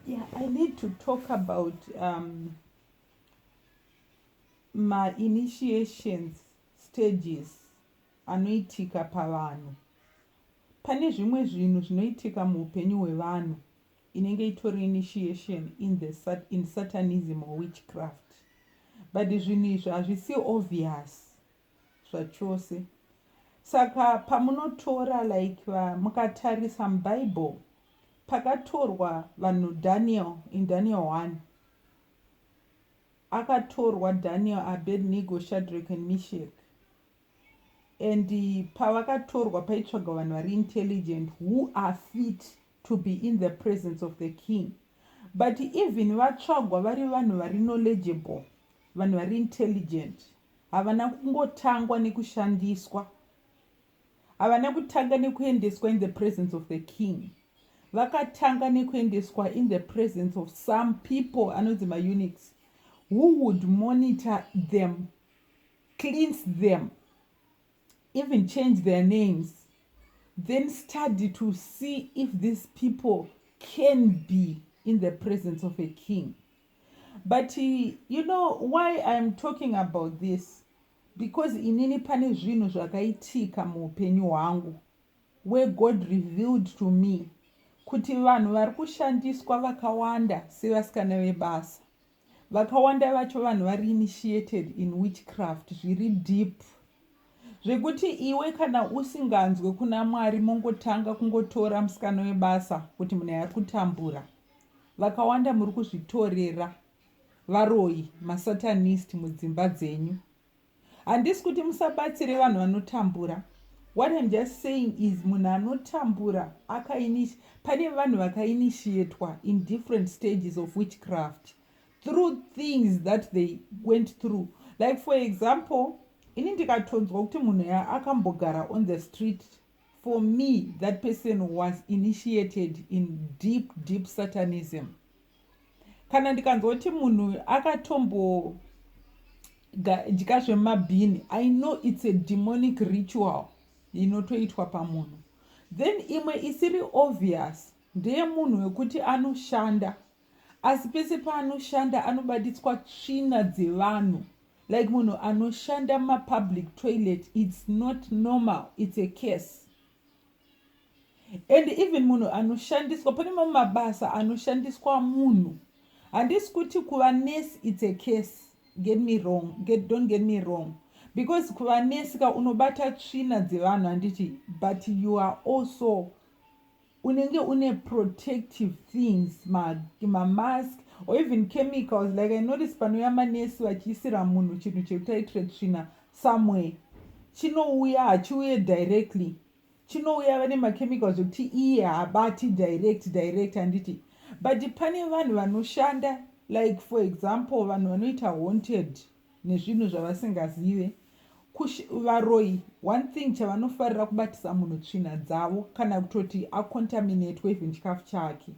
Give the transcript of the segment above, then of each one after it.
Yeah, I need to talk about um, my initiations stages anoitika pavanhu. Pane zvimwe zvinhu zvinoitika muupenyu hwevanhu inenge itori initiation in the sat in satanism or witchcraft. But zvinhu izvi hazvisi obvious. zvachose saka pamunotora like va, mukatarisa mubible pakatorwa vanhu daniel in daniel 1 akatorwa daniel abednego shadrack and mishek and pavakatorwa paitsvagwa vanhu vari intelligent who are fit to be in the presence of the king but even vatsvagwa vari vanhu vari knowledgeable vanhu vari intelligent Havana kungotangwa nekushandiswa. Havana kutanga nekuendeswa in the presence of the king. Vakatanga nekuendeswa in the presence of some people anonzi maunits who would monitor them, cleanse them, even change their names, then study to see if these people can be in the presence of a king. But you know why I am talking about this because inini pane zvinhu zvakaitika muupenyu hwangu where God revealed to me kuti vanhu vari kushandiswa vakawanda sevasikana vebasa vakawanda vacho vanhu vari initiated in witchcraft zviri deep zvekuti iwe kana usinganzwe kuna mwari mongotanga kungotora musikana webasa kuti munhu ari kutambura Vakawanda muri kuzvitorera varoyi masatanist mudzimba dzenyu. Handisi kuti musabatsire vanhu vanotambura. What I'm just saying is munhu anotambura akainish pane vanhu vakainitiatwa in different stages of witchcraft through things that they went through like for example ini ndikatonzwa kuti munhu akambogara on the street For me that person was initiated in deep deep satanism. Kana ndikanzwa kuti munhu akatombo dya zvemabhini i know it's a demonic ritual inotoitwa pamunhu then imwe isiri obvious ndeyemunhu wekuti anoshanda asi pese paanoshanda anobaditswa tsvina dzevanhu like munhu anoshanda mumapublic toilet its not normal its a case and even munhu anoshandiswa pane mamwe mabasa anoshandiswa munhu handisi kuti kuva nurse its a case get me wrong get, don't get me wrong because kuva nurse ka unobata tsvina dzevanhu handiti but you are also unenge une protective things mamask or even chemicals like i notice panouya manesi vachiisira munhu chinhu chekuti aitire tsvina somewhere chinouya hachiuye directly chinouya vane machemicals ekuti iye haabati direct direct handiti but pane vanhu vanoshanda like for example vanhu vanoita haunted nezvinhu zvavasingazive Kush, varoyi one thing chavanofarira kubatisa munhu tsvina dzavo kana kutoti acontaminatwe even chikafu chake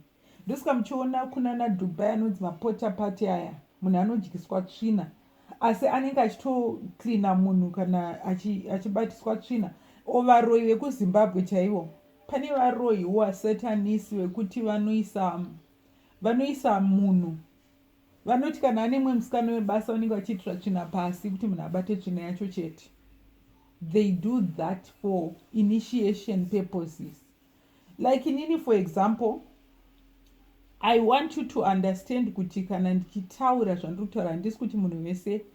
ndosaka muchiona kunana dubai anonzi mapota pati aya munhu anodyiswa tsvina asi anenge achitoclina munhu kana achibatiswa tsvina o varoyi vekuzimbabwe chaivo pane varoyiwo asetanisi vekuti vanoisa vanoisa munhu vanoti kana ane mumwe musikana webasa vanenge vachiitira tsvina pasi kuti munhu abate tsvina yacho chete they do that for initiation purposes like inini for example i want you to understand kuti kana ndichitaura zvandiri kutaura handisi kuti munhu vese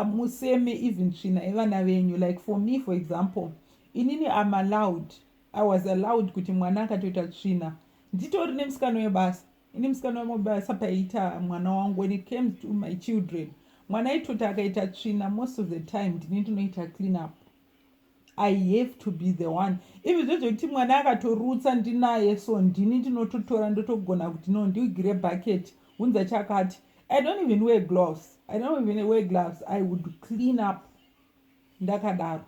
museme even tsvina yevana venyu like for me for example inini am allowed i was allowed kuti mwana akatoita tsvina nditori nemusikana webasa ini musikana wemobasa paiita mwana wangu when it came to my children mwana aitoti akaita tsvina most of the time ndini ndinoita clean up i have to be the one even zvo zvekuti mwana akatorutsa ndinaye so ndini ndinototora ndotogona kuti no ndiugire bucket hunza chakati i don't even wear gloves i don't even wear gloves i would clean up ndakadaro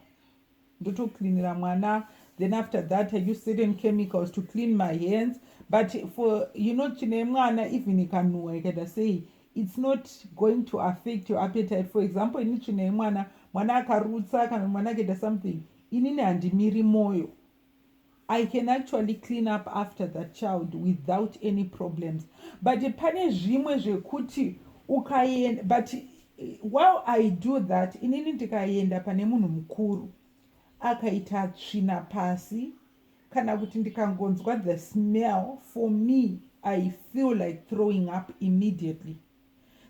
ndotocleanira mwana then after that i use certain chemicals to clean my hands but for you know tsvina yemwana even ikanhuwa ikaita sei it's not going to affect your appetite for example ini tsvina yemwana mwana akarutsa kana mwana akaita something inini handimiri mwoyo I can actually clean up after that child without any problems but pane zvimwe zvekuti ukaenda but eh, while i do that inini ndikaenda pane munhu mukuru akaita tsvina pasi kana kuti ndikangonzwa the smell for me i feel like throwing up immediately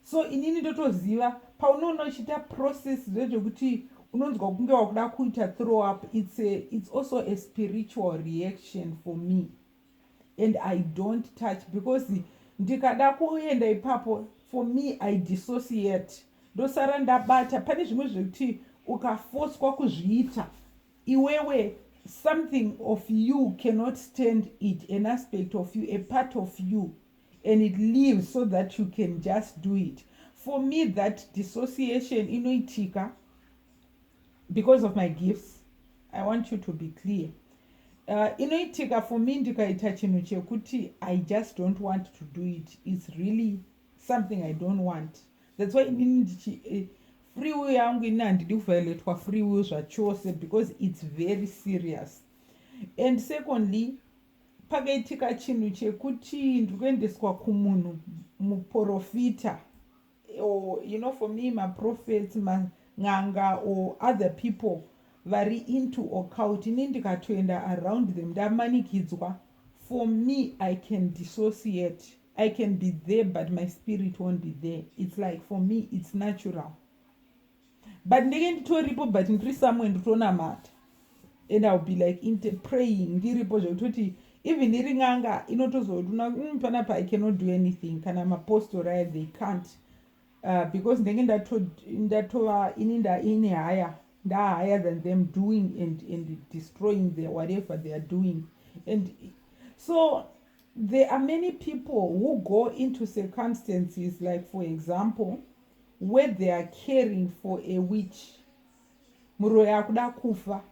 so inini ndotoziva paunoona uchiita process zvezvekuti unonzwa kunge wakuda kuita throw up it's, a, it's also a spiritual reaction for me and i don't touch because ndikada kuenda ipapo for me i dissociate ndosara ndabata pane zvimwe zvekuti ukafoswa kuzviita iwewe something of you cannot stand it an aspect of you a part of you and it leaves so that you can just do it for me that dissociation inoitika because of my gifts i want you to be clear uh, inoitika for me ndikaita chinhu chekuti i just don't want to do it its really something i don't want that's why inini ndichi eh, free will yangu ini handidi kuvioletwa free will zvachose because its very serious and secondly pakaitika chinhu chekuti ndiri kuendeswa kumunhu muprofita or you know for me maprofets man'anga or other people vari into occult ini ndikatoenda around them ndamanikidzwa for me i can dissociate i can be there but my spirit won't be there it's like for me it's natural but ndenge nditoripo but ndiri somewhere ndiritonamata and ill be like inte praying ndiripo zvekutoti even iri n'anga inotozoona mm, pana pa i cannot do anything kana mapostori aya they can't uh, because ndenge ndatova ini ndaine haya ndahigher than them doing and, and destroying the whatever they are doing and so there are many people who go into circumstances like for example where they are caring for a witch muroyi akuda kufa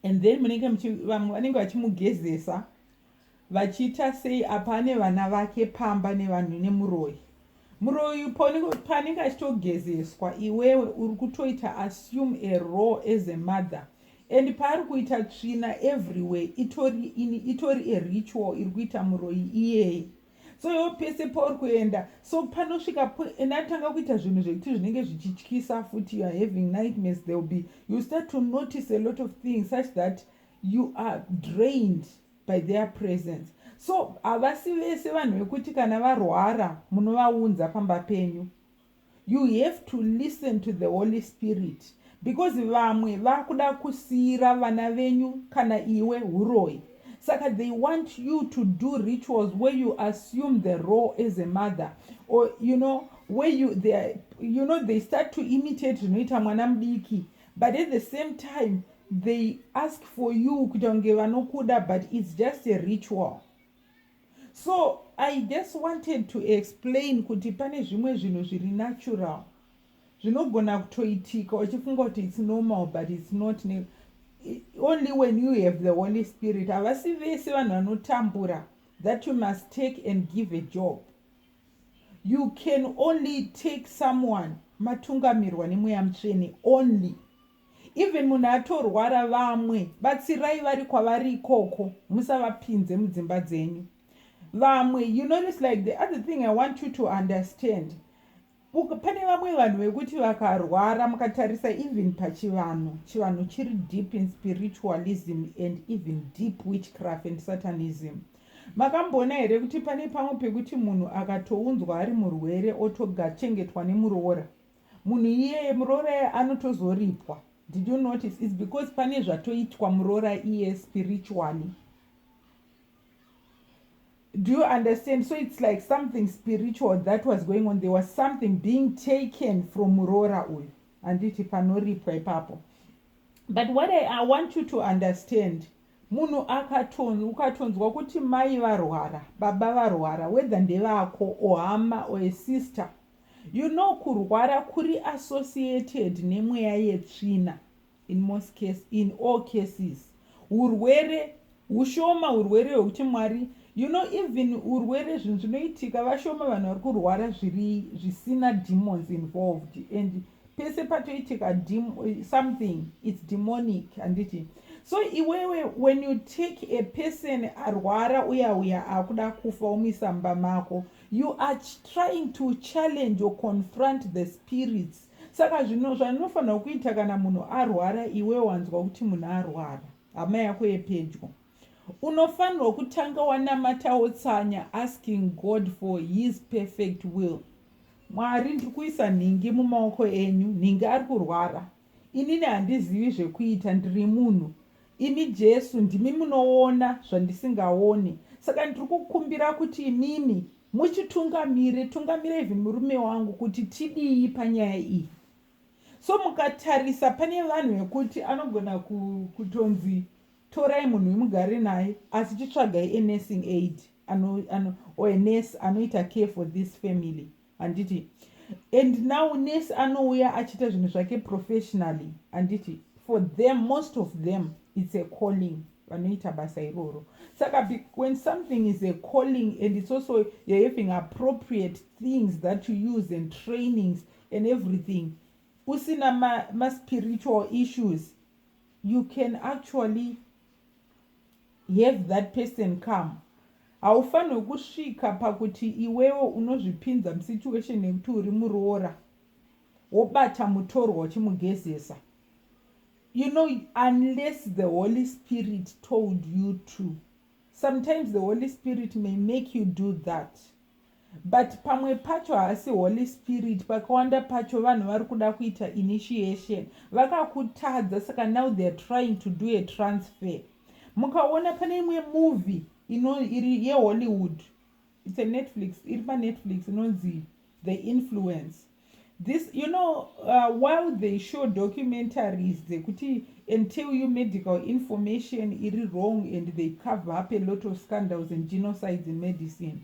and then munenge vamwe vanenge vachimugezesa vachiita sei apa ane vana vake pamba nevanhu nemuroyi muroyi paanenge achitogezeswa iwewe uri kutoita assume a raw as a mother and paari kuita tsvina everywhere itori ini itori a ritual iri kuita muroyi iyeye so iwo pese pauri kuenda so panosvika po and atanga kuita zvinhu zvekuti zvinenge zvichityisa futi youare having nightmares there will be you start to notice a lot of things such that you are drained by their presence so havasi vese vanhu vekuti kana varwara munovaunza pamba penyu You have to listen to the Holy Spirit because vamwe vakuda kusiira vana venyu kana iwe huroyi saka they want you to do rituals where you assume the role as a mother or you know where you they are, you know they start to imitate zvinoita mwana mudiki but at the same time they ask for you kuita kunge vanokuda but it's just a ritual so i just wanted to explain kuti pane zvimwe zvinhu zviri natural zvinogona kutoitika uchifunga kuti its normal but its not only when you have the holy spirit havasi vese vanhu vanotambura that you must take and give a job you can only take someone matungamirwa nemweya mutsvene only Even munhu atorwara vamwe batsirai vari kwavari ikoko musavapinze mudzimba dzenyu vamwe you notice like the other thing i want you to understand pane vamwe vanhu vekuti vakarwara mukatarisa even pachivanhu chivanhu chiri deep in spiritualism and even deep witchcraft and satanism makamboona here kuti pane pamwe pekuti munhu akatounzwa ari murwere otogachengetwa nemuroora Munhu iyeye muroora anotozoripwa. Did you notice? It's because pane zvatoitwa muroora iye spiritually. Do you understand? So it's like something spiritual that was going on. There was something being taken from muroora uyu. Handiti panoripwa ipapo. But what I, I want you to understand munhu akaton ukatonzwa kuti mai varwara baba varwara whether ndevako or hama or a sister You know kurwara kuri associated nemweya yetsvina in most case, in all cases. Hurwere hushoma hurwere hwekuti Mwari you know even urwere zvinhu zvinoitika vashoma vanhu vari kurwara zviri zvisina demons involved and pese patoitika something its demonic handiti so iwewe when you take a person arwara uya uya akuda kufa omuisa mumba mako You are trying to challenge or confront the spirits. Saka zvino zvanofanira kuita kana munhu arwara iwe wanzwa kuti munhu arwara. Hama yako yepedyo. Unofanirwa kutanga wanamata wotsanya asking God for his perfect will. Mwari ndiri kuisa nhingi mumaoko enyu, nhingi ari kurwara. Inini handizivi zvekuita ndiri munhu. Imi Jesu ndimi munoona zvandisingaone saka ndiri kukumbira kuti imimi muchitungamire tungamira even murume wangu kuti tidii panyaya iyi so mukatarisa pane vanhu vekuti anogona kutonzi torai munhu wemugare naye asi chitsvagai enursing aid ano, ano, or nurse anoita care for this family handiti and now nurse anouya achiita zvinhu zvake professionally handiti for them most of them it's a calling vanoita basa iroro saka when something is a calling and it's also you're having appropriate things that you use and trainings and everything usina maspiritual ma issues you can actually Have that person come. Haufanirwe kusvika pakuti iwewe unozvipinza musituation yekuti uri muroora wobata mutorwa uchimugezesa. You know, unless the Holy Spirit told you to. Sometimes the Holy Spirit may make you do that. But pamwe pacho haasi holy spirit pakawanda pacho vanhu vari kuda kuita initiation vakakutadza saka now theyare trying to do a transfer mukaona pane imwe movie ino iri yehollywood it's a netflix iri panetflix inonzi the influence this you know uh, while they show documentaries dzekuti and tell you medical information iri wrong and they cover up a lot of scandals and genocides in medicine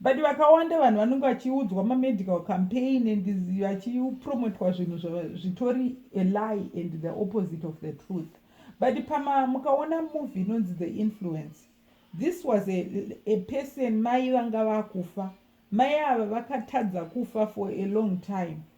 But vakawanda vanhu vanenge vachiudzwa mamedical campaign and vachipromotwa zvinhu zvitori a lie and the opposite of the truth but pama mukaona movie inonzi the influence this was a, a person mai vanga vakufa mai ava vakatadza kufa for a long time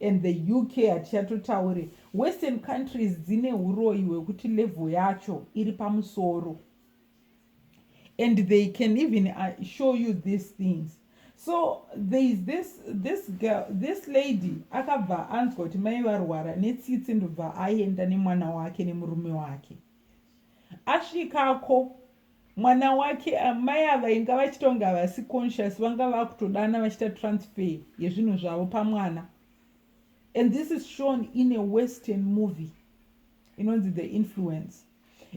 and the UK hatichatotaure western countries dzine huroyi hwekuti level yacho iri pamusoro and they can even uh, show you these things so there is this this girl this lady akabva anzwa kuti mai varwara netsitsi ndobva aenda nemwana wake nemurume wake asvikako mwana wake amai ava inga vachitonga havasi conscious vanga vakutodana vachiita transfer yezvinhu zvavo pamwana and this is shown in a western movie inonzi the influence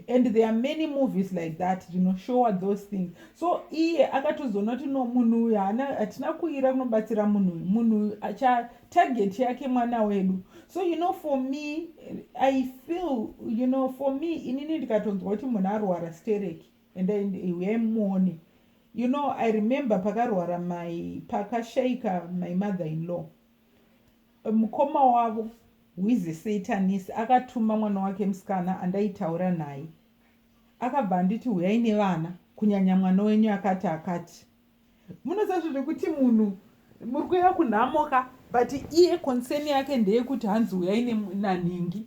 and there are many movies like that zvinoshowa those things so iye akatozoona kuti no munhu uyu haana hatina kuira kunobatsira munhu uyu munhu uyu target yake mwana wedu so you know for me i feel you know for me inini ndikatonzwa kuti munhu arwara stereki and uyai muone you know i remember pakarwara mai pakashaika my mother in law mukoma wavo wize satanis akatuma mwana wake musikana andaitaura naye akabva anditi huyai nevana kunyanya mwana wenyu akati akati munozazvo zvekuti munhu muri kuya kunhamo ka but iye concern yake ndeyekuti hanzi uyai nanhingi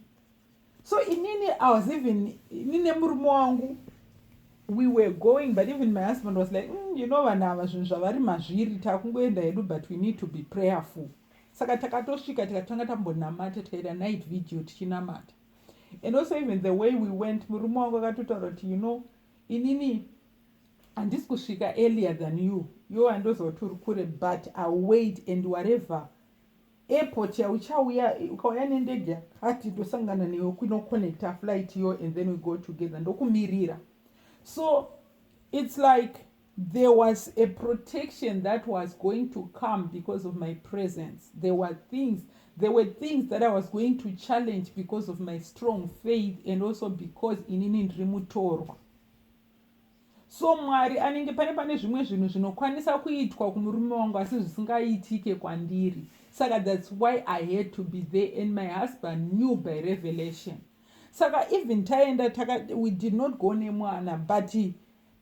so inini i was even ini nemurume wangu we were going but even my husband was like mm, you know vanhu ava zvinhu zvavari mazviri takungoenda hedu but we need to be prayerful saka takatosvika tikatanga tambonamata tikaita night video tichinamata and also even the way we went murume wangu akatotaura kuti you know inini handisi kusvika earlier than you yo handoziva kuti uri kure but ill wait and whatever airport yauchauya ukauya nendege yakati ndosangana newe kunoconnecta flight yo and then we go together ndokumirira so it's like there was a protection that was going to come because of my presence there were things there were things that i was going to challenge because of my strong faith and also because inini ndiri mutorwa so mwari anenge pane pane zvimwe zvinhu zvinokwanisa kuitwa kumurume wangu asi zvisingaitike kwandiri saka thats why i had to be there and my husband knew by revelation saka even taenda we did not go nemwana but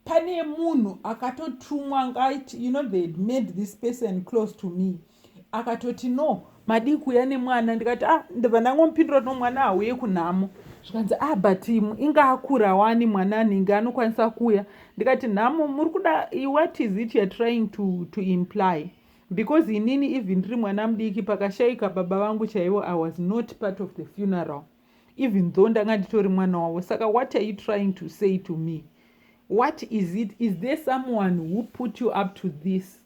pane munhu akatotumwa ngaiti you know they had made this person close to me mm. akatoti no madii kuuya nemwana ndikati ah ndibva ndangomupindura kuti no mwana hauye kunhamo zvikanzi a ah, but inga akura wani mwana anenge anokwanisa kuuya ndikati nhamo muri kuda what is it youare trying to, to imply because inini even ndiri mwana mudiki pakashaika baba vangu chaivo i was not part of the funeral even though ndanga nditori mwana wavo saka what are you trying to say to me what is it is there someone who put you up to this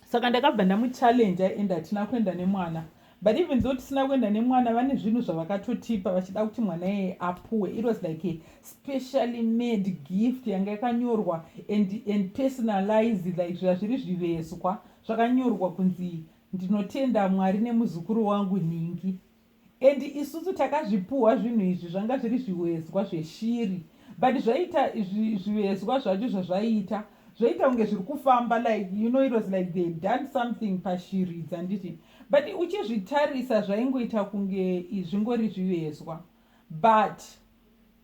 saka ndakabva ndamuchallenja and hatina kuenda nemwana but even though tisina kuenda nemwana vane zvinhu zvavakatotipa vachida kuti mwana iyeye apuwe it was like a specially made gift yanga yakanyorwa and, and personalized like zviya zviri zvivezwa zvakanyorwa kunzi ndinotenda mwari nemuzukuru wangu nhingi And isusu takazvipuhwa zvinhu izvi zvanga zviri zvivezwa zveshiri but zvaita zvivezwa zvacho zvazvaita zvaita kunge zviri kufamba like you know it was like they done something pashiri dzanditi but uchizvitarisa zvaingoita kunge zvingori zvivezwa but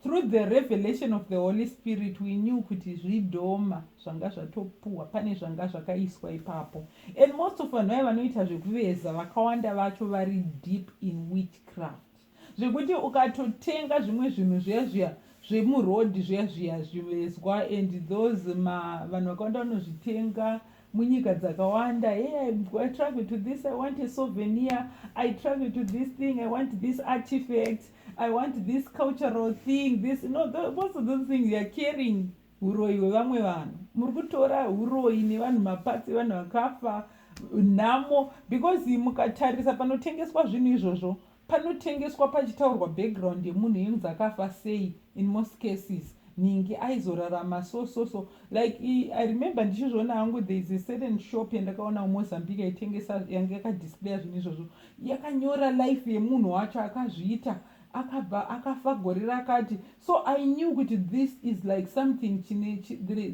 Through the revelation of the Holy Spirit we knew kuti zvidhoma zvanga zvatopuhwa pane zvanga zvakaiswa ipapo and most of vanhu vaya vanoita zvekuveza vakawanda vacho vari deep in witchcraft zvekuti ukatotenga zvimwe zvinhu zviya zviya zvemuroad zviya zviya zvivezwa and those vanhu vakawanda vanozvitenga munyika dzakawanda hey I, i travel to this i want a souvenir i travel to this thing i want this artifact i want this cultural thing this no most of those things youare caring uroyi hwevamwe vanhu muri kutora uroyi nevanhu mapatsi evanhu vakafa nhamo because mukatarisa panotengeswa zvinhu izvozvo panotengeswa pachitaurwa background yemunhu yengu dzakafa sei in most cases nhingi aizorarama so so so like i remember ndichizviona hangu there is a certain shop yandakaona mumozambique yaitengesa yanga yakadisplaya zvinhu izvozvo yakanyora life yemunhu wacho akazviita akabva akafa gore rakati so i knew kuti this is like something chine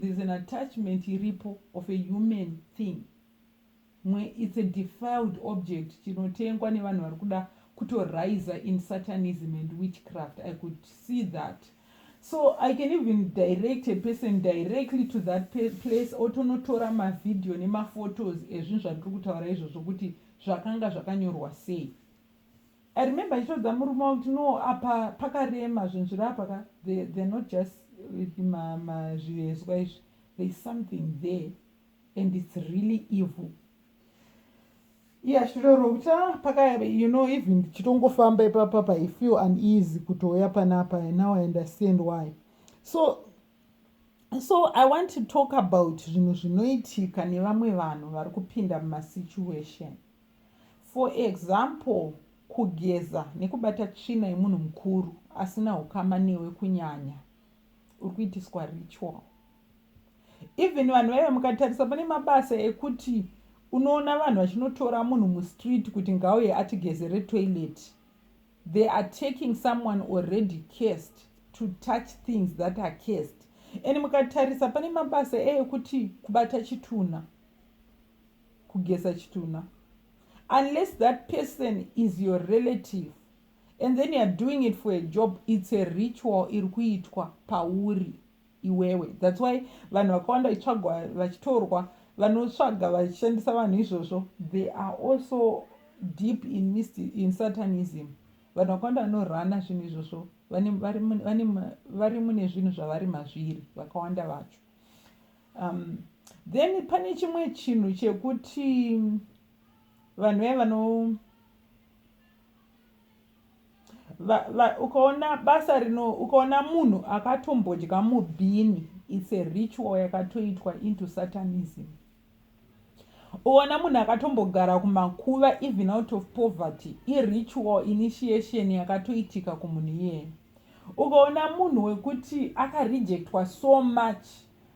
there's an attachment iripo of a human thing mwe it's a defiled object chinotengwa nevanhu vari kuda kutoriser in satanism and witchcraft i could see that so i can even direct a person directly to that place otonotora mavideo nemaphotos ezvinhu zvandiri kutaura izvozvo kuti zvakanga zvakanyorwa sei i remember achitaudza murume wangu kuti no apa pakarema zvinhu zviri apa ka they're not just zvivezwa izvi there's something there and it's really evil iyashiroro kuti ah, pakayave you know even ndichitongofamba ipapapa i feel uneasy kutouya panapa now i understand why so so i want to talk about zvinhu zvinoitika nevamwe vanhu vari kupinda mumasituation for example kugeza nekubata tsvina yemunhu mukuru asina ukama newe kunyanya uri kuitiswa ritual even vanhu vaive mukatarisa pane mabasa ekuti unoona vanhu vachinotora munhu mustreet kuti ngauye atigezere toilet They are taking someone already cursed to touch things that are cursed and mukatarisa pane mabasa eekuti kubata chitunha kugesa chitunha unless that person is your relative and then youare doing it for a job its a ritual iri kuitwa pauri iwewe that's why vanhu vakawanda vachitsvagwa vachitorwa vanotsvaga vachishandisa vanhu izvozvo they are also deep in, mist, in satanism vanhu vakawanda vanorana zvinhu izvozvo vari mune zvinhu zvavari mazviri vakawanda vacho um, then pane chimwe chinhu chekuti vanhu vaye vano Va, va, ukaona basa rino ukaona munhu akatombodya mubhini its a ritual yakatoitwa into satanism uona munhu akatombogara kumakuva even out of poverty iritual initiation yakatoitika kumunhu iyeye ukaona munhu wekuti akarejectwa so much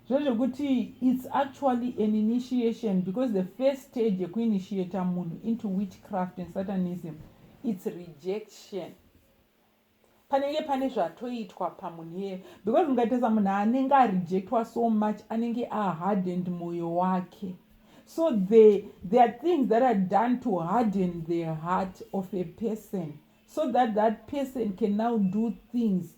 Zvezvekuti it's actually an initiation because the first stage yekuinitiator munhu into witchcraft and satanism it's rejection panenge pane zvatoitwa pamunhu iyeye because mukatarisa munhu anenge arejectwa so much anenge ahardened mwoyo wake so the, there are things that are done to harden the heart of a person so that that person can now do things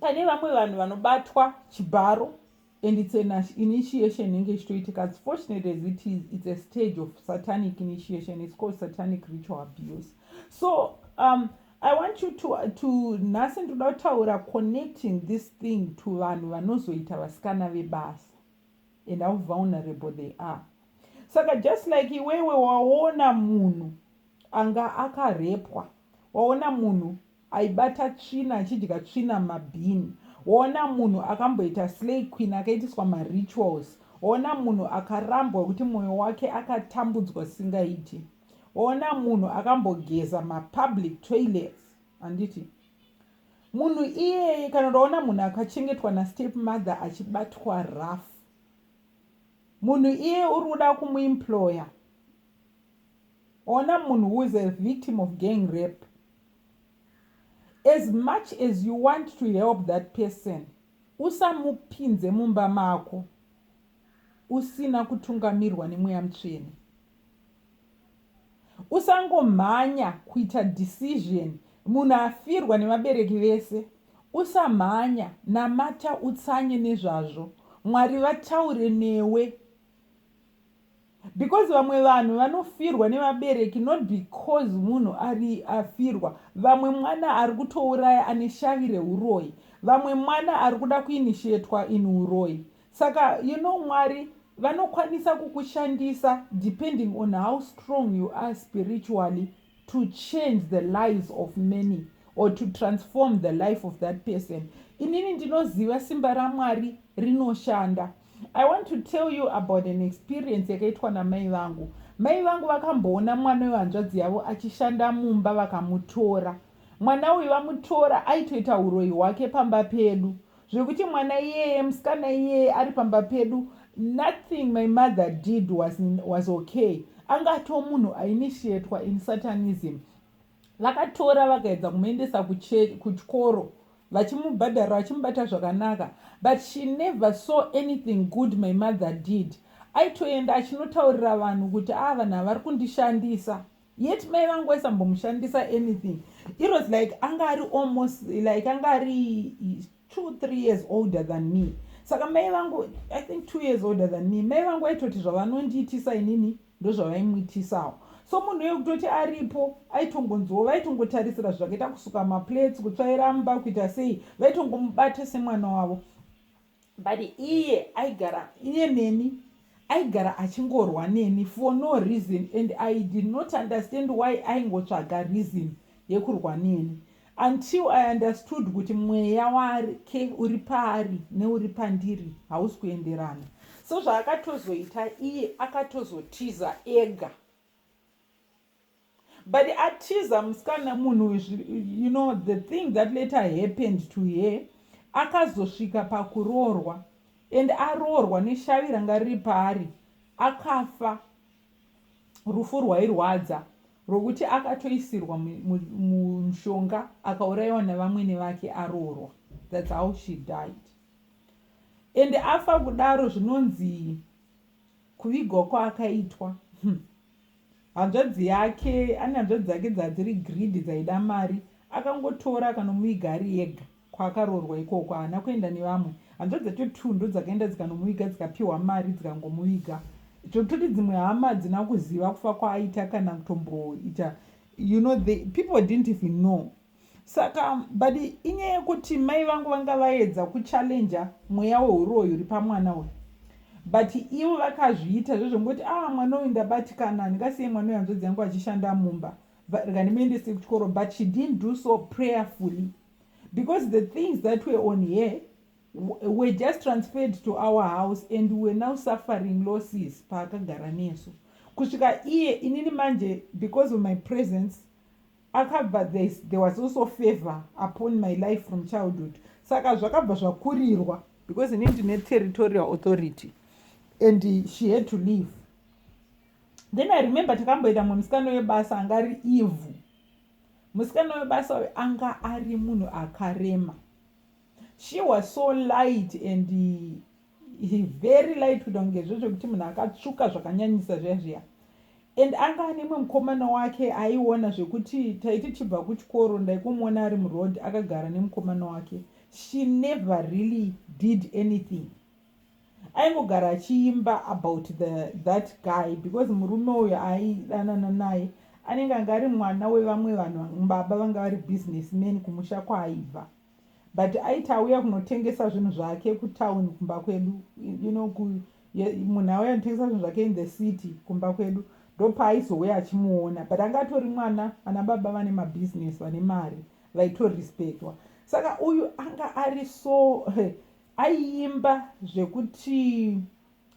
pane vamwe vanhu vanobatwa chibharo and its an initiation inenge ichitoitika as fortunate as it is its a stage of satanic initiation its called satanic ritual abuse so um, i want you to, to nhasi ndinoda kutaura connecting this thing to vanhu vanozoita vasikana vebasa and how vulnerable they are saka just like iwewe waona munhu anga akarepwa waona munhu Aibata tsvina achidya tsvina mumabin. Woona munhu akamboita slay queen akaitiswa marituals. Woona munhu akarambwa kuti moyo wake akatambudzwa singaiti. Woona munhu akambogeza mapublic toilets. Handiti? Munhu iyeye kana ndaona munhu akachengetwa nastep mother achibatwa rough. Munhu iyeye uri kuda kumuemployer. Woona munhu who is a victim of gang rape. As much as you want to help that person, usamupinze mumba mako usina kutungamirwa nemweya mutsvene. Usangomhanya kuita decision munhu afirwa nevabereki vese. Usamhanya, namata utsanye nezvazvo. Mwari vataure newe. because vamwe vanhu vanofirwa nevabereki not because munhu ari afirwa vamwe mwana ari kutouraya ane shavi reuroyi vamwe mwana ari kuda kuinishetwa in uroyi saka you know mwari vanokwanisa kukushandisa depending on how strong you are spiritually to change the lives of many or to transform the life of that person inini ndinoziva simba ramwari rinoshanda i want to tell you about an experience yakaitwa namai vangu mai vangu vakamboona mwana wehanzvadzi yavo achishanda mumba vakamutora mwana uyu vamutora aitoita uroyi hwake pamba pedu zvekuti mwana iyeye musikana iyeye ari pamba pedu nothing my mother did was, was okay anga atoo munhu ainitiatwa in satanism vakatora vakaedza kumuendesa kuchikoro vachimubhadhara vachimubata zvakanaka but she never saw anything good my mother did aitoenda achinotaurira vanhu kuti a ah, vanhu havari kundishandisa yet mai vangu vaisambomushandisa anything it was like anga ari almost like anga ari two three years older than me saka mai vangu i think two years older than me mai vangu vaitoti zvavanondiitisa inini ndozvavaimuitisawo so munhu uye kutoti aripo aitongonzwawo vaitongotarisira zvakaita kusuka maplates kutsvaira mba kuita sei vaitongomubata semwana wavo but iye aigara iye neni aigara achingorwa neni for no reason and i did not understand why aingotsvaga reason yekurwa neni until i understood kuti mweya wake uri paari neuri pandiri hausi kuenderana so zvaakatozoita iye akatozotiza ega but atiza musikana munhu uyu you know the thing that later happened to her akazosvika pakuroorwa and aroorwa neshavi ranga riri paari akafa rufu rwairwadza rwokuti akatoisirwa mushonga akaurayiwa nevamwene vake aroorwa thats how she died and afa kudaro zvinonzi kuvigwa kwaakaitwa hmm. Hanzvadzi yake ane hanzvadzi dzake dzadziri greedy dzaida mari akangotora akanomuviga ari ega kwaakaroorwa ikoko haana kuenda nevamwe hanzvadzi dzacho two ndodzakaenda dzikanomuviga dzikapihwa mari dzikangomuviga zvekutoti dzimwe hama hadzina kuziva kufa kwaaita kana kutomboita you know the people didn't even know Saka but inyaya yekuti mai vangu vanga vaedza kuchallenger mweya wehuroyi uri pamwana uyu but ivo vakazviita zvezvongoti ah mwana uyu ndabatikana handingasiye mwana uyu hanzvadzi yangu achishanda mumba rega ndimuendese kuchikoro but she didn't do so prayerfully because the things that were on here were just transferred to our house and we were now suffering losses paakagara nesu kusvika iye inini manje because of my presence Akabva there's, there was also favor upon my life from childhood saka zvakabva zvakurirwa because ini ndine territorial authority and she had to leave then i remember takamboenda mumwe musikana webasa anga ari evil musikana webasa uyo anga ari munhu akarema She was so light and he very light kuita kunge zvezvekuti munhu akatsvuka zvakanyanyisa zviya zviya and anga ane mwe mukomana wake aiona zvekuti taiti tibva kuchikoro ndaikomuona ari muroad akagara nemukomana wake she never really did anything aingogara achiimba about the that guy because murume uyo aidanana naye anenge anga ari mwana wevamwe vanhu baba vanga vari business man kumusha kwaaibva But aiti auya kunotengesa zvinhu zvake kutown kumba kwedu you know ku munhu auya kunotengesa zvinhu zvake in the city kumba kwedu ndopaaizouya achimuona but anga atori mwana ana baba vane mabusiness vane mari vaitorespectwa saka uyu anga ari so aiimba zvekuti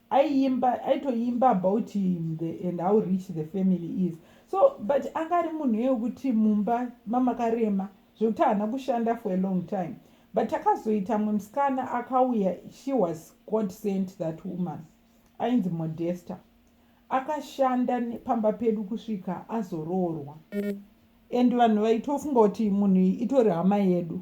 aiimba aitoimba about him the, and how rich the family is so but anga ari munhu iye wekuti mumba mamakarema zvekuti haana kushanda for a long time but takazoita mwe musikana akauya she was god sent that woman ainzi modesta akashanda pamba pedu kusvika azoroorwa and vanhu vaitofunga kuti munhu itori hama yedu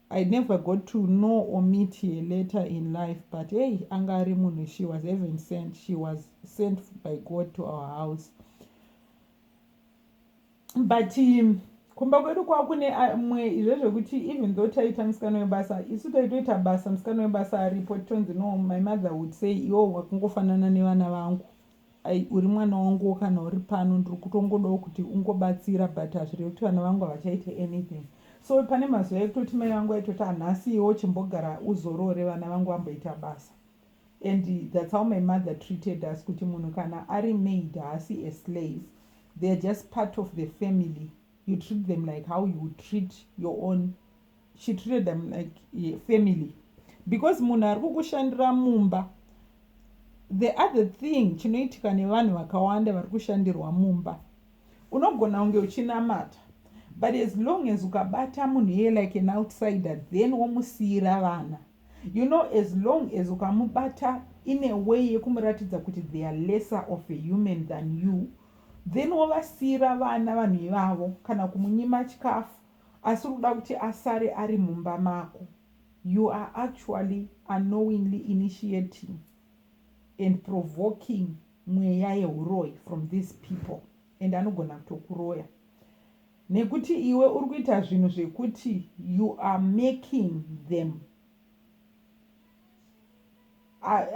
I never got to know or meet her later in life but hey anga ari munhu she was heaven sent she was sent by God to our house but um, kumba kwedu kwava kune uh, mwe izvo zvekuti even though taita musikana webasa isu taitoita basa musikana webasa aripo tonzi no my mother would say iwo wakungofanana nevana vangu Ai uri mwana wanguwo kana uri pano ndiri kutongodawo kuti ungobatsira but hazvirevi kuti vana vangu havachaite anything so pane mazuva ekutoti mai vangu vaitoti hanhasi iwo chimbogara uzorore vana vangu vamboita basa and that's how my mother treated us kuti munhu kana ari maid haasi a slave they are just part of the family you treat them like how you treat your own she treated them like eh, family because munhu ari kukushandira mumba the other thing chinoitika nevanhu vakawanda vari kushandirwa mumba unogona kunge uchinamata but as long as ukabata munhu iye like an outsider then womusiyira vana you know as long as ukamubata in a way yekumuratidza kuti they are lesser of a human than you then wovasiyira vana vanhu ivavo kana kumunyima chikafu Asi urikuda kuti asare ari mumba mako you are actually unknowingly initiating and provoking mweya yehuroyi from these people and anogona kutokuroya nekuti iwe uri kuita zvinhu zvekuti you are making them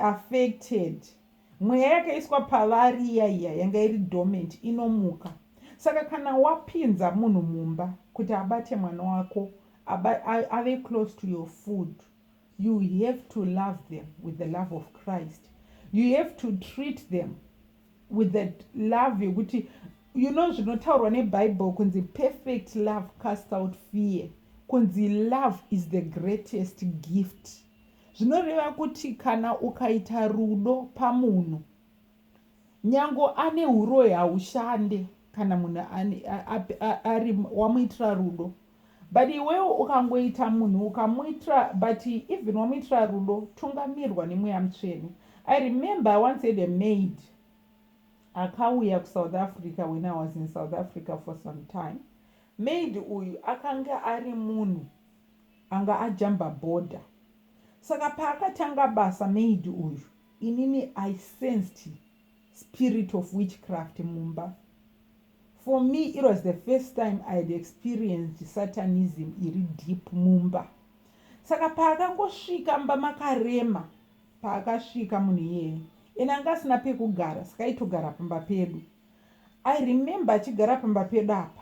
affected mweya yakaiswa pavari iya iya yanga iri dormant inomuka saka kana wapinza munhu mumba kuti abate mwana wako ave close to your food you have to love them with the love of christ you have to treat them with that love yekuti you know zvinotaurwa nebible kunzi perfect love cast out fear kunzi love is the greatest gift Zvinoreva kuti kana ukaita rudo pamunhu nyango ane uroyi haushande kana munhu ari wamuitira rudo but iwewo ukangoita munhu ukamuitira but even wamuitira rudo tungamirwa nemweya mutsvene i remember i once had a maid akauya kusouth africa when i was in south africa for some time maid uyu akanga ari munhu Anga ajamba border saka paakatanga basa maid uyu inini I sensed spirit of witchcraft mumba. For me it was the first time I had experienced satanism iri deep mumba. Saka paakangosvika mba makarema paakasvika munhu iyeye ena anga asina pekugara saka aitogara pamba pedu. I remember achigara pamba pedu apa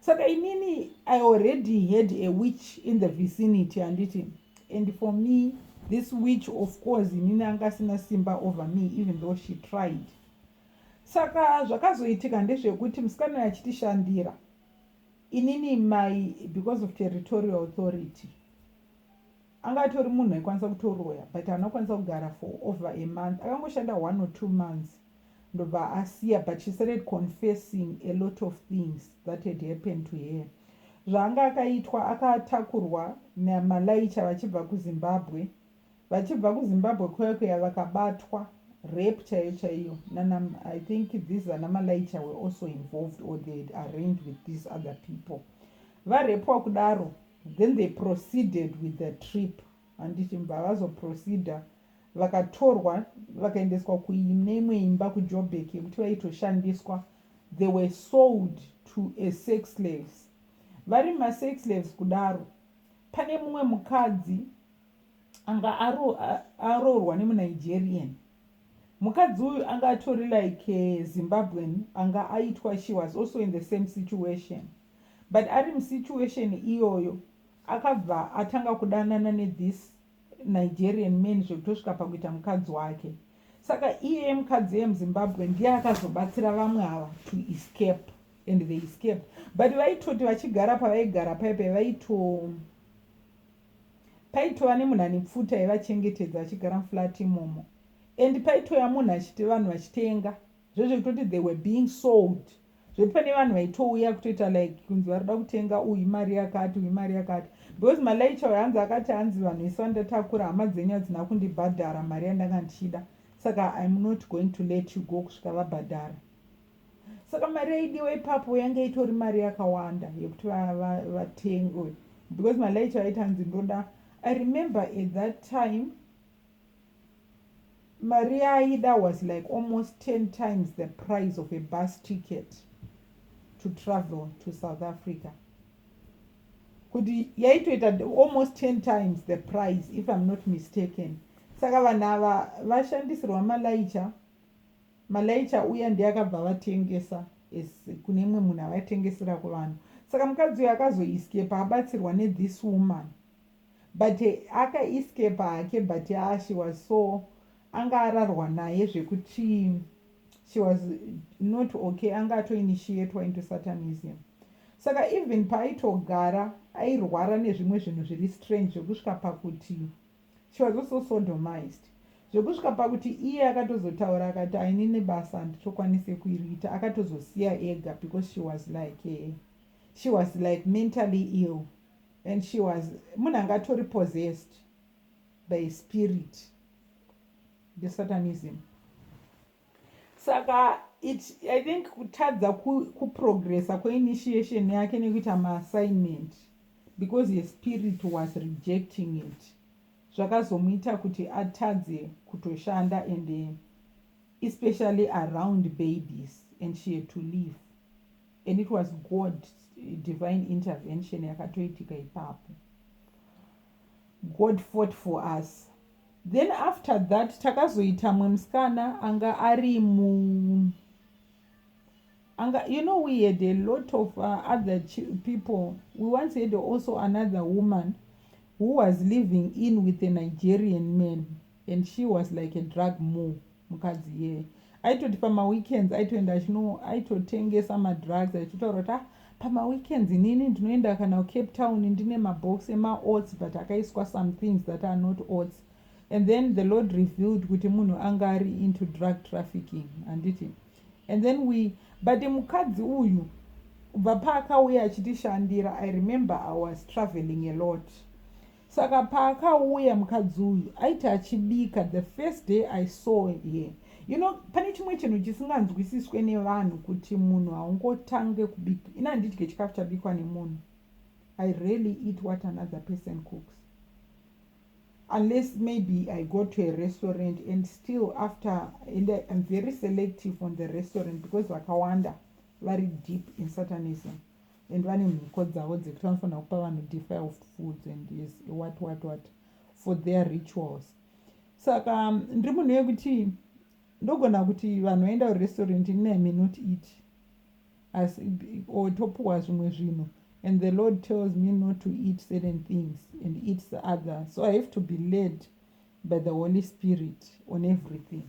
saka inini i already had a witch in the vicinity handiti and for me this witch of course inini anga asina simba over me even though she tried saka zvakazoitika ndezvekuti musikana yachitishandira inini mai because of territorial authority Anga atori munhu aikwanisa kutoroya but haana kukwanisa kugara for over a month akangoshanda one or two months ndobva asiya but she started confessing a lot of things that had happened to her zvaanga akaitwa akatakurwa namalaicha vachibva kuzimbabwe vachibva kuzimbabwe kuya kuya vakabatwa rape chaiyo chaiyo nana i think these ana malaicha were also involved or they had arranged with these other people varepwa kudaro Then they proceeded with the trip handiti mva vazoproceeder vakatorwa vakaendeswa kuine imwe imba kujobek yekuti vaitoshandiswa they were sold to a sex slaves vari masex slaves kudaro pane mumwe mukadzi anga aroorwa nemunigerian mukadzi uyu anga atori like zimbabwean anga aitwa she was also in the same situation But ari musituation iyoyo akabva atanga kudanana ne this Nigerian man zvekutosvika pakuita mukadzi wake. Saka iyeye mukadzi eye muZimbabwe ndiye akazobatsira vamwe ava to escape and they escaped. But vaitoti vachigara pavaigara paipe vaito paitova nemunhu ane pfuta aivachengetedza achigara muflat imomo and paitoya munhu achiti vanhu vachitenga Zvezve kutoti they were being sold zvekuti pane vanhu vaitouya kutoita like kunzi vari kuda kutenga uyu imari yakati uyu imari yakati because malaicha uyo hanzi akati hanzi vanhu vese vandatakura hama dzenyu hadzina kundibhadhara mari yandanga ndichida saka im not going to let you go kusvika vabhadhara saka mari yaidiwa ipapo yange itori mari yakawanda yekuti vatengwe because malaicha vaiti hanzi ndoda i remember at that time Mari yaaida was like almost 10 times the price of a bus ticket to travel to South Africa. Kuti yaitoita almost 10 times the price if I'm not mistaken. Saka vanhu ava vashandisirwa malaicha malaicha uya ndiye akabva vatengesa kune imwe munhu avatengesera kuvanhu saka mukadzi uyo akazoiskepa abatsirwa nethis woman But aka escaper hake but haa she was so anga ararwa naye zvekuti she was not okay anga ato initiatwa into satanism saka even paaitogara airwara nezvimwe zvinhu zviri strange zvekusvika pakuti she was also sodomized zvekusvika pakuti iye akatozotaura akati ainini basa handitokwanise kuiriita akatozosiya ega because she was like eh, she was like mentally ill and she was munhu anga atori possessed by spirit the satanism saka it i think kutadza kuprogressa kweinitiation yake nekuita maassignment because ye spirit was rejecting it zvakazomuita kuti atadze kutoshanda and especially around babies and she had to leave and it was god divine intervention yakatoitika ipapo god fought for us then after that takazoita mwe musikana anga ari mu anga you know we had a lot of uh, other people we once had also another woman who was living in with a nigerian man and she was like a drug mu mukadzi iyeye aitoti pamaweekends aitoenda achino aitotengesa madrugs achitotaura kuti ah pamaweekends inini ndinoenda kana kucape town ndine mabox emaots but akaiswa some things that are not ots and then the lord revealed kuti munhu anga ari into drug trafficking handiti and then we but mukadzi uyu kubva paakauya achitishandira i remember i was traveling a lot Saka paakauya mukadzi uyu aiti achibika the first day I saw here you know pane chimwe chinhu chisinganzwisiswe nevanhu kuti munhu haungotange kubika ini handidye chikafu chabikwa nemunhu I really eat what another person cooks unless maybe I go to a restaurant and still after and I, I'm very selective on the restaurant because vakawanda vari deep in satanism and vane mhiko dzavo dzekuti vanofanira kupa vanhu defiled foods and yes what what what for their rituals saka um, ndiri munhu yekuti ndogona kuti vanhu vaenda kurestaurant ini i may not eat asi or topuwa zvimwe zvinhu and the lord tells me not to eat certain things and eats the other so i have to be led by the holy spirit on everything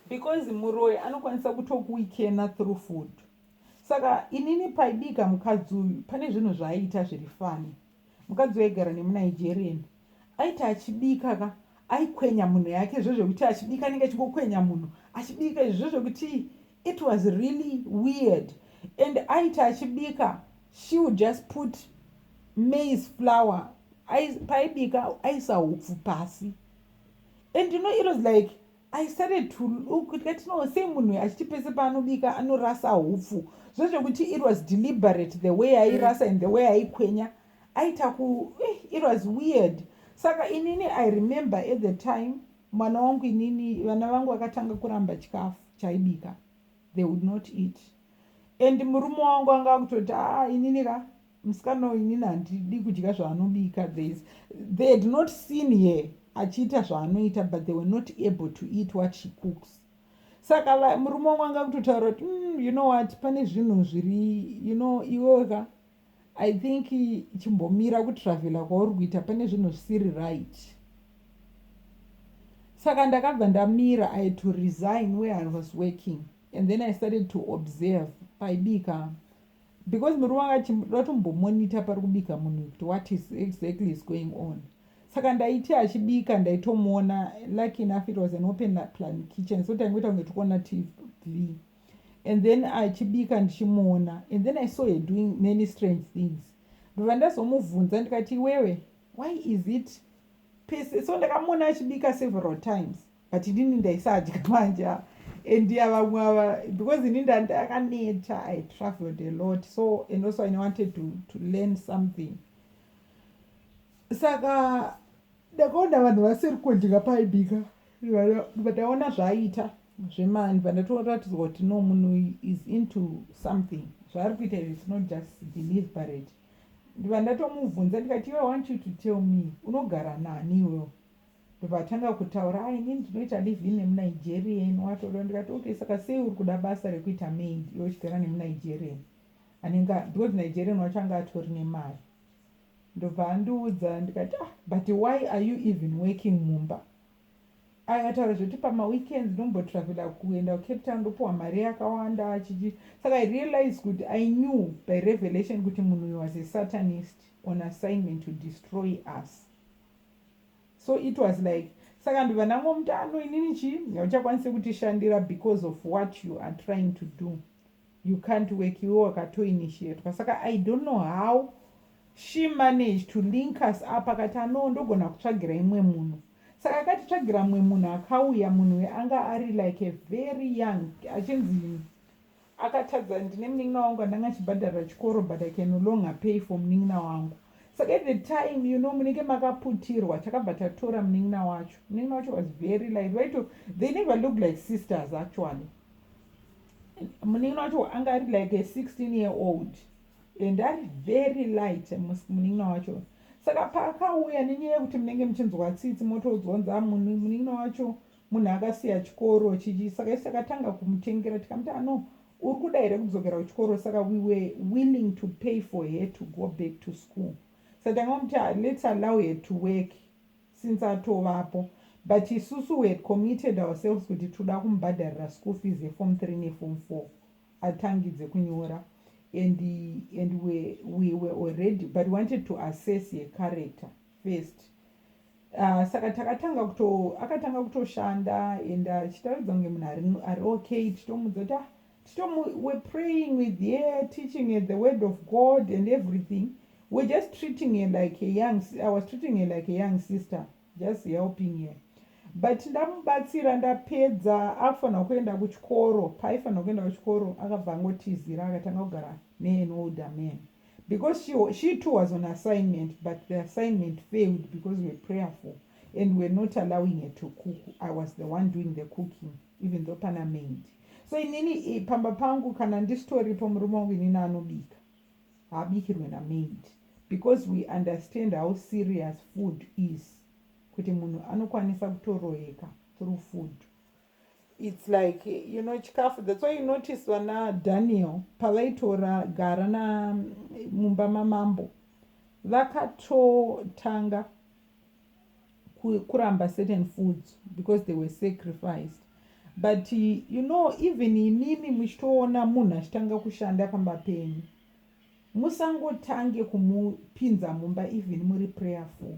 because muroyi anokwanisa kutokuwikena through food saka inini paibika mukadzi uyu pane zvinhu zvaaiita zviri fani mukadzi uyu aigara nemunigerian aiti achibika ka aikwenya munhu yake zvezvekuti achibika anenge achingokwenya munhu achibika izvi zvezvekuti it was really weird and aiti achibika she would just put maize flower paibika aisa hupfu pasi and you know it was like I started to look tikati no sei munhu uyu achiti pese paanobika anorasa hupfu zvezvekuti it was deliberate the way airasa and the way aikwenya aita ku eh, it was weird saka inini i remember at the time mwana wangu inini vana vangu vakatanga kuramba chikafu chaibika they would not eat and murume wangu anga akutoti aa ah, inini ka musikana uyu inini handidi kudya zvaanobika theys they had not seen her achiita zvaanoita but they were not able to eat what she cooks saka murume wangu anga kutotaura kuti mm, you know what pane zvinhu zviri you know iwoka i think chimbomira kutravela kwauri kuita pane zvinhu zvisiri right saka ndakabva ndamira i had to resign where i was working and then i started to observe paibika because murume wake vatombomonita pari kubika munhu kuti what is exactly is going on saka ndaiti achibika ndaitomuona lucky enough it was an open plan kitchen so taingoita kunge tikuona tv and then achibika ndichimuona and then i saw her doing many strange things ndobva ndazomubvunza ndikati iwewe why is it pese so ndakamuona achibika several times but inini ndaisadya manje and yavamwe ava because ini ndandakaneta i traveled a lot so and also i wanted to, to learn something saka ndakaona vanhu vasiri kudya paibika vataona zvaiita zvemani vandatoratidzwa kuti no munhu is into something zvaari kuita izvi is not just deliberate ndiva ndatomubvunza ndikati iwe want you to tell me unogara nani iwewo ndobva atanga kutaura ah ini ndinoita live in nemunigerian watoda ndikati okay saka sei uri kuda basa rekuita maid iwe uchigara nemunigerian anenge because nigerian wacho anga atori nemari ndobva andiudza ndikati ah but why are you even working mumba akataura zvekuti pamaweekends ndombotravela kuenda kucape town ndopiwa mari yakawanda chichi saka i realize kuti i knew by revelation kuti munhu uyu was a satanist on assignment to destroy us so it was like saka ndivana ngomutano inini chii hauchakwanise kutishandira because of what you are trying to do you can't work iwe wakatoinitiatwa saka i don't know how she managed to link us up akati anoo ndogona kutsvagira imwe munhu saka akatitsvagira mumwe munhu akauya munhu weanga ari like a very young achinzi Akatadza ndine munin'ina wangu andanga achibhadharira chikoro but I can no longer pay for munin'ina wangu saka at the time you know munenge makaputirwa takabva tatora munin'ina wacho munin'ina wacho was very light vaito they never look like sisters actually munin'ina wacho anga ari like a 16 year old and ari very light munin'ina wacho saka paakauya nenyaya yekuti munenge muchinzwa tsitsi motoudzwa nzaa munin'ina wacho munhu akasiya chikoro chichi saka isu takatanga kumutengera tikamuti ano uri kuda here kudzokera kuchikoro saka we were willing to pay for her to go back to school saka tanga muti ah, let's allow her to work since atovapo but isusu we had committed ourselves kuti toda kumubhadharira school fees yefom three nefom four atangidze kunyora and, and we, we were already but wanted to assess her character first uh, saka takatanga kuto akatanga kutoshanda and achitaridza kunge munhu ari okay titomudza kuti ah, titomu were praying with her teaching her the word of god and everything we're just treating her like a young i was treating her like a young sister just helping her but ndamubatsira ndapedza akufanira kuenda kuchikoro paaifanira kuenda kuchikoro akabva angotizira akatanga kugara nean older man because she, she too was on assignment but the assignment failed because we're prayerful and we're not allowing her to cook i was the one doing the cooking even though pana maid so inini pamba pangu kana ndisitoripo murume wangu inini anobika haabikirwe namaid because we understand how serious food is kuti munhu anokwanisa kutoroyeka through food its like you know chikafu that's why you notice vana daniel pavaitora gara na mumba mamambo vakatotanga kuramba certain foods because they were sacrificed but you know even imimi muchitoona munhu achitanga kushanda pamba penyu musangotange kumupinza mumba even muri prayerful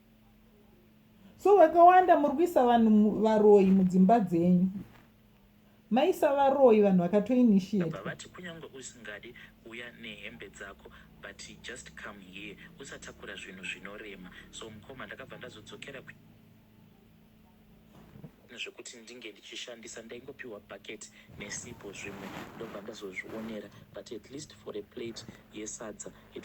so vakawanda muri kuisa vanhu varoyi mudzimba dzenyu maisa varoyi vanhu vakatoinitiatevati kunyange usingadi kuuya nehembe dzako but just come here usatakura zvinhu zvinorema so mukoma ndakabva ndazodzokera zvekuti ndinge ndichishandisa ndaingopiwa bucket nesipo zvimwe ndobva ndazozvionera but at least for a plate yesadza it